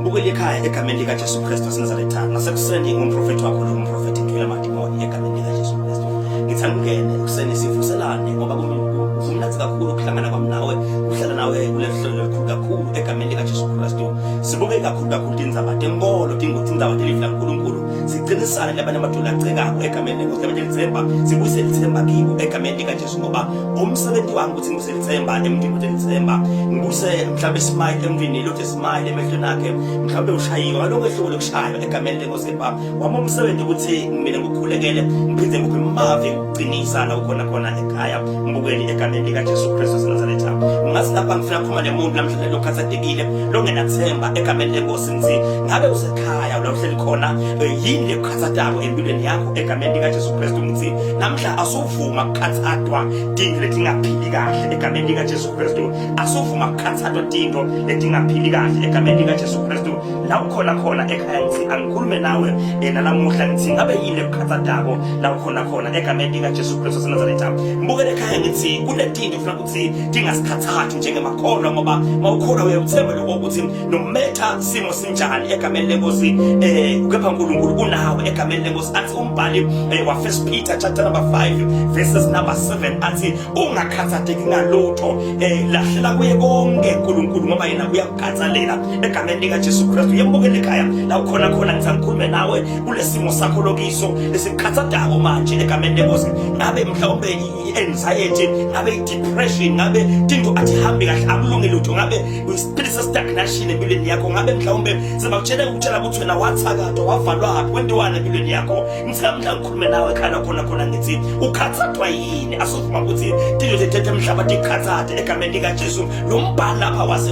Bukela ikhaya egameni likaJesu Kristu waseNazaretha nasekuseni ngumprofethi wakho lo mprofethi Ndwela Madimoni egameni likaJesu Kristu. Ngithanda ungene ekuseni sivuselane ngoba kumnandi kakhulu ukuhlangana kwami nawe ukuhlala nawe kuleli hlelo elikhulu kakhulu egameni likaJesu Kristu. Sibuke kakhulu kakhulu tindzaba tenkolo tindzaba telivi laNkulunkulu siqinisane labanye amadodana acekako egameni lenkosi egameni lelithemba sibuyise lithemba kibo egameni likaJesu ngoba umsebenzi wami ukuthi ngibuse lithemba emntwini ukuthi lithemba ngibuse mhlawumbe smile emntwini lothe smile emehlweni akhe mhlawumbe ushayiwe ngaloko ehluko lokushaywa egameni lenkosi kepha wami umsebenzi ukuthi mina ngikhulekele ngiphinde ngiphe mavi ukuqinisa la ukhona khona ekhaya ngibukeli egameni likajesu kristu senazaretha ngazi lapha ngifuna khuma nemuntu namhlanje lokhathatekile longenathemba egameni lenkosi ngithi ngabe usekhaya la uhleli khona eh, yini lekukhathatako empilweni yakho egameni likajesu kristu ngithi namhla asu asuvuma kukhathathwa tinto letingaphili kahle egameni likaJesu Kristu asuvuma kukhathathwa tinto letingaphili kahle egameni likaJesu Kristu la ukhona khona ekhaya ngithi angikhulume nawe yena namuhla ngithi ngabe yini ekukhathathako la ukhona khona egameni likaJesu Kristu waseNazaretha ngibukele ekhaya ngithi kunetinto sidinga sikhathathu njengemakholwa ngoba mawukholwa uyakuthemba lokho ukuthi nometha simo sinjani egameni lenkosi eh kepha uNkulunkulu unawe egameni lenkosi athi umbhali eh, wa first Peter chapter number 5 verses number 7 athi ungakhathateki ngalutho eh lahlela kuye konke uNkulunkulu ngoba yena uyakukhathalela egameni lika Jesu Kristu yembukele ekhaya la ukhona khona ngithi angikhulume nawe kulesimo sakho lokiso esikukhathatako manje egameni lenkosi ngabe mhlawumbe i-anxiety ngabe i-depression ngabe tinto atihambi kahle akulungi lutho ngabe uyispirit se-stagnation empilweni yakho ngabe mhlawumbe sebakutshela ukutshela ukuthi wena wathakatwa wavalwa haphi kwentiwani empilweni yakho ngithika mhla ngikhulume nawe khala khona khona ngithi ukhathathwa yini asovuma ukuthi tinto zethetha emhlaba tikhathathe egameni likajesu lo mbhali lapha wase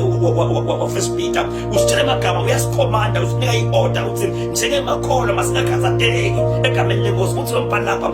wafirst peter usitshela emagama uyasikhomanda usinika i-order ukuthi njengemakholwa masingakhathatheki egameni lenkosi ukuthi lo mbhali lapha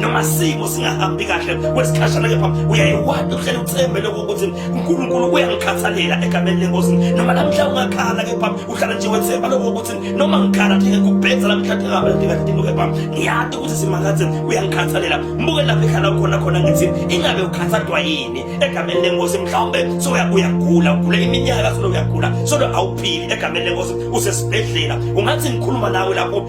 noma simo singahambi kahle kwesikhashana kepha uyayiwada uhlele uthembe lokho ukuthi uNkulunkulu uyangikhathalela egameni lenkosi noma namhla ungakhala kepha uhlala nje wethemba lokho ukuthi noma ngikhala ngeke kubhedza namhla ngingabela ndingadingo kepha ngiyade ukuthi simakathe uyangikhathalela mbuke lapho ekhala khona khona ngithi ingabe ukhathadwa yini egameni lenkosi mhlawumbe soya uyagula ugula iminyaka solo uyagula solo awuphili egameni lenkosi usesibhedlela ungathi ngikhuluma nawe lapho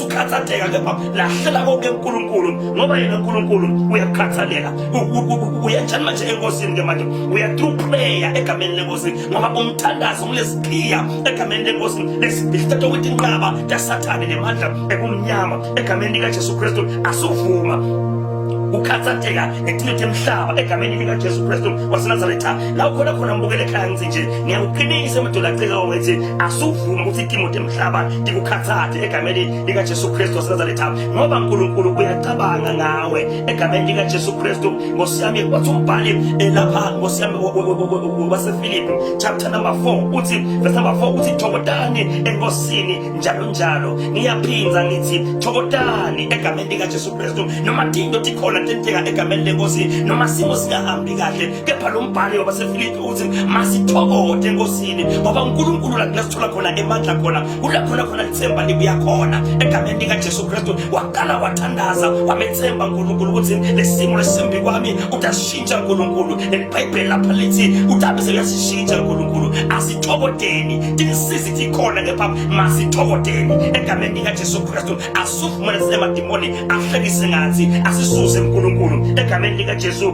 ukhathateka kepha lahlela konke uNkulunkulu ngoba yena uNkulunkulu uyakhathalela uyanjani manje enkosini ke manje uyathrough prayer egameni lenkosi ngoba umthandazo kulesiqiya egameni lenkosi lesibhilithatha ukuthi inqaba kasathane nemandla ekumnyama egameni likaJesu Kristu asuvuma ukukhathatheka ngeqiniso emhlaba egameni lika Jesu Kristu waseNazaretha la ukhona khona mbukele ekhaya ngithi nje ngiyakuqinisa emadolaceka ongethi asuvuma ukuthi iTimotheo hlaba ndikukhathathe egameni likaJesu Kristu waseNazaretha ngoba uNkulunkulu uyacabanga ngawe egameni likaJesu Kristu Nkosi yami wathi umbhali elapha eh, Nkosi yami waseFilipi chapter number 4 uthi verse number 4 uthi thokotani enkosini njalo njalo ngiyaphinza ngithi thokotani egameni likaJesu Kristu noma into tikhona tenteka egameni lenkosi noma simo singahambi kahle kepha lo mbhali wabasefilipi uthi masithokode enkosini ngoba unkulunkulu la kula sithola khona emandla khona kula khona khona lithemba libuya khona egameni likajesu kristu waqala wathandaza wamethemba nkulunkulu ukuthi lesimo lesimbi kwami utasishintsha nkulunkulu nelibhayibheli lapha lithi utabise uyasishintsha nkulunkulu asithokodeni tinisizi tikhona kepha masithokodeni egameni likajesu kristu asifumane sinemadimoni ahlekise ngathi asisuze nkulunkulu egameni likajesu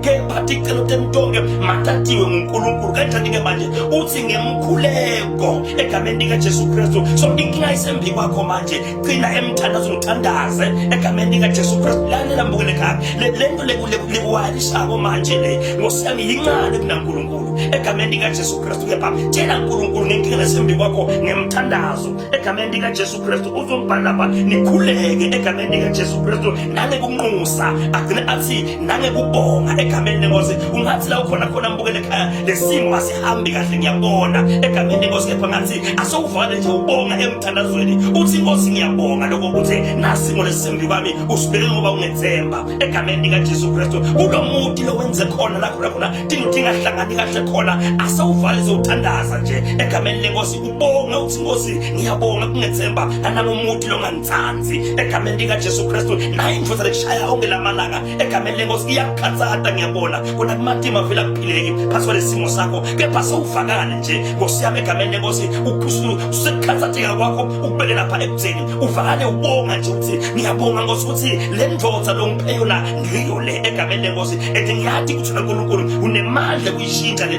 kepha ticelo temtonke matatiwe ngunkulunkulu kanjani-ke manje uthi ngemkhuleko egameni likajesu kristu so inkinga isembi kwakho manje gcina emthandazo ngithandaze egameni likajesu kristu lalela mbukele kabi le nto lekuwayalishako manje le nkosi yami yincane kunankulunkulu egameni likajesu kristu kepha tshela nkulunkulu ngenkinga lesembi kwakho ngemthandazo egameni likajesu Kristu uzombhala lapha nikhuleke egameni likaJesu Kristu nangekunxusa agcine athi nangekubonga egameni lenkosi ungathi la ukhona khona mbukele ekhaya lesimo asihambi kahle ngiyabona egameni lenkosi kepha ngathi asowuvale nje ubonga emthandazweni uthi inkosi ngiyabonga lokho ukuthi nasimo lesimbi kwami usibeke ngoba ungethemba egameni likaJesu Kristu kulo muti lo wenze khona la khona khona dingo dingahlangani kahle khona asowuvale zowuthandaza nje egameni lenkosi Bonga uthi Nkosi ngiyabonga kungethemba analomuthi longangitsandzi egameni lika Jesu Kristu naye ngifuna ukushaya onke lamalanga egameni lenkosi iyakukhatsata ngiyabona kona kumatima vela kuphileki phasi kwalesimo sakho kepha sewuvakale nje Nkosi yami egameni lenkosi uphusulu usekukhathatheka kwakho ukubeke lapha ekutheni uvakale ubonga nje ukuthi ngiyabonga Nkosi ukuthi le ndvodza longiphe yona ngiyo le egameni lenkosi and ngiyathi ukuthi uNkulunkulu unemandla kuyishintsha le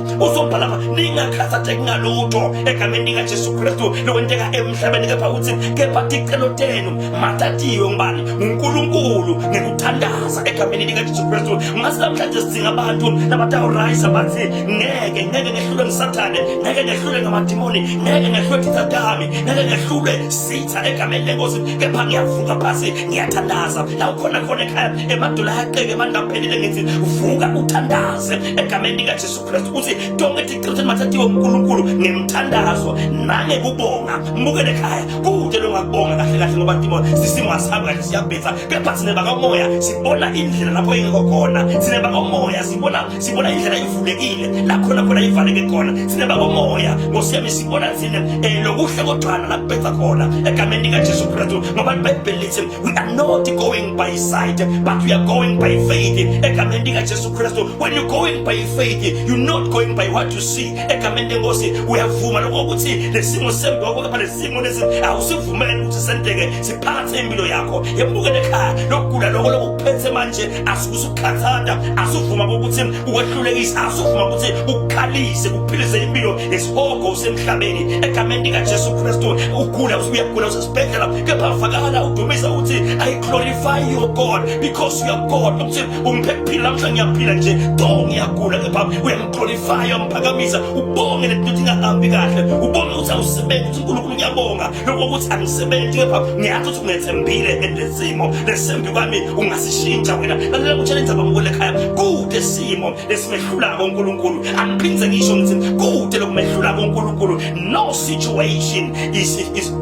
uzobhala ningakhathazeki ngalutho egameni likajesu kristu lokwenteka emhlabeni kepha uthi kepha ticelo tenu matatiwe ngubani ngunkulunkulu ngekuthandaza egameni likajesu kristu ngase namhlanje sidinga abantu nabatawurayisa bathi ngeke ngeke ngehlule ngisathane ngeke ngehlule ngamadimoni ngeke ngehlule tithatami ngeke ngehlule sitha egameni lenkosi kepha ngiyavuka phasi ngiyathandaza la ukhona khona ekhaya emadula ayaqeke mandaphelile ngithi vuka uthandaza egameni likaJesu Kristu ukuthi tonke tigcithe mathathiwe uNkulunkulu ngemthandazo nange kubonga mbuke lekhaya kude lokubonga kahle kahle ngoba ndimo sisimo asihambi kahle siyabhitha kepha sine bakamoya sibona indlela lapho ingekho khona sine bakamoya sibona sibona indlela ivulekile la khona khona ivaleke khona sine bakamoya ngosiyami sibona sine eh, lokuhle kogcana laphetha khona egameni likaJesu Kristu ngoba iBhayibheli lithi We are not going by sight, but we are going by faith. Egameni lika Jesu Kristu. When you going by faith, you not going by what you see. Egameni lenkosi uyavuma lokho ukuthi lesimo sembi wakho kepha lesimo lesi awusivumeli ukuthi senteke siphathe impilo yakho. Yebukele ekhaya lokugula lokho lokuphethe manje asikusukhathanda asuvuma ukuthi ukwehlulekisa asuvuma ukuthi ukukhalise kuphilise impilo yesihogo usemhlabeni egameni lika Jesu Kristu. Ugula usuyagula sibhedlela kepha vakala udumisa ukuthi i glorify your god because you are god ukuthi ungiphe kuphila namhla ngiyaphila nje do ngiyagula kepha uyamglorifya umphakamisa ubonge lento ukuthi ingahambi kahle ubonge ukuthi awusebenzi ukuthi unkulunkulu ngiyabonga lokho ukuthi angisebenzi kepha ngiyazi ukuthi ungethembile endesimo lesembi kwami ungasishintsha wena lalela kutshela indzaba ngikule khaya kude simo lesimehlulako uNkulunkulu angiphindze ngisho ngithi kude lokumehlulako uNkulunkulu no situation is, is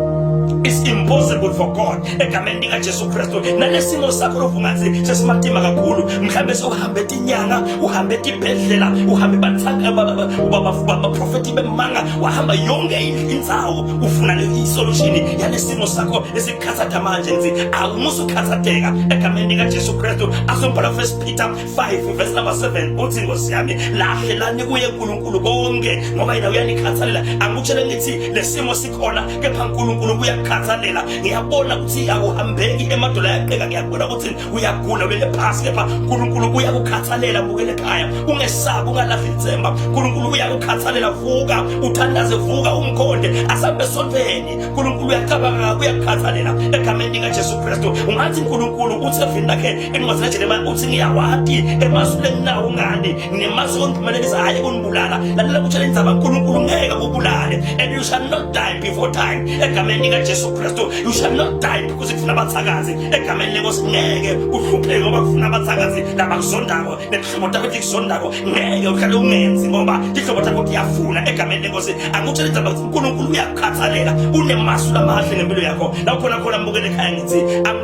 is impossible for God egameni lika Jesu Kristu nalesimo sakho lokungathi sesimatima kakhulu mhlambe sohambe tinyanga uhambe tibhedlela uhambe bathaka baba profeti bemanga wahamba yonke indzawo ufuna le solution yalesimo sakho esikhathatha manje nzi awumusu khathateka egameni lika Jesu Kristu asombhala first Peter 5 verse number 7 uthi Nkosi yami lahle lani kuye uNkulunkulu konke ngoba yena uyanikhathalela angikutshele ngithi lesimo sikhona kepha uNkulunkulu uyakukhathalela ngiyabona ukuthi akuhambeki emadola yaqheka ngiyabona ukuthi uyagula ulele phansi kepha uNkulunkulu uyakukhathalela bukele ekhaya ungesabi ungalahli ithemba uNkulunkulu uyakukhathalela vuka uthandaze vuka umkhonde asambe sontweni uNkulunkulu uyacabanga uyakukhathalela egameni likaJesu Kristu ungathi uNkulunkulu uthi evini lakhe engiwazilejele manje uthi ngiyawati emazulu enginawo ngani nemazi kondiphumelelisa hhayi kunibulala lalela kutshela indzaba nkulunkulu ngeke kubulale and you shall not die before time egameni likajesu kristu you shall not die because kufuna abathakazi egameni lenkosi ngeke uhlupheke ngoba kufuna abathakazi labakuzondako nezihlobo takho tikuzondako ngeke uhlale ungenzi ngoba tihlobo takho tiyafuna egameni lenkosi angikutshela indzaba ukuthi unkulunkulu uyakukhathalela unemasu lamahle ngempilo yakho la ukhona khona mbukele ekhaya ngithi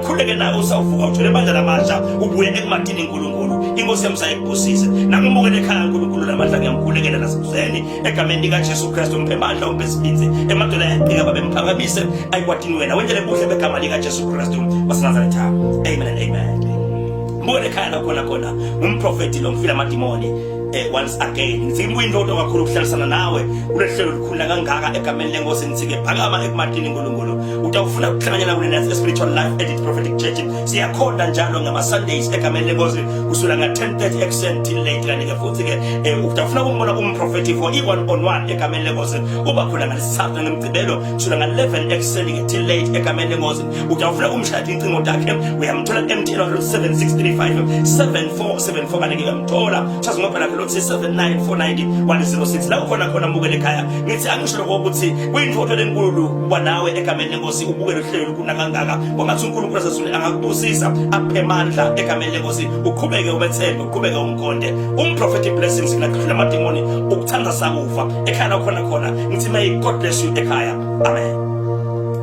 khuleke naye usawuvuka uthole amandla lamasha ubuye ekumadini nkulunkulu inkosi yami sayikubusise nakumukele ekhaya nkulunkulu namandla ngiyamkhulekela nasebuseni egameni likajesu kristu umphe mandla umphe sibinzi emadolo ayaqika babe mphakamise ayikwatini wena wendele buhle begama likajesu kristu wasenazaretha amen and amen mukele ekhaya lakhona khona ngumprofeti lo ngifile amadimoni Eh, once again ngifika kuyindodo kakhulu ukuhlalisana nawe kulehlelo likhulula kangaka egameni lenkosi ngithike phakama ekumatini nkulunkulu utawufuna ukuhlanganyela kule nathi spiritual life edit prophetic church siyakhonda njalo ngama sundays egameni lenkosi kusula nga 10:30 ekuseni till late kanti ke futhi ke eh, utawufuna ukumbona umprofeti for i one on one egameni lenkosi uba khona ngalesithathu ngemgcibelo kusula nga 11 ekuseni till late egameni lenkosi utawufuna umshayela incingo takhe uyamthola emtshela 7635 7474 kanti uyamthola chaza ngoba lakhe lothi 7949 la ukhona khona mukele ekhaya ngithi angisho lokho ukuthi kuyinfotho lenkulu kuba nawe egameni lenkosi ubukele uhlelo kuna kangaka kwangathi uNkulunkulu asezulwini angakubusisa aphe amandla egameni lenkosi uqhubeke ubethembe uqhubeke umkhonde umprofeti blessings ngakudlula amademoni ukuthanda sakufa ekhaya lakhona khona ngithi may god bless you ekhaya amen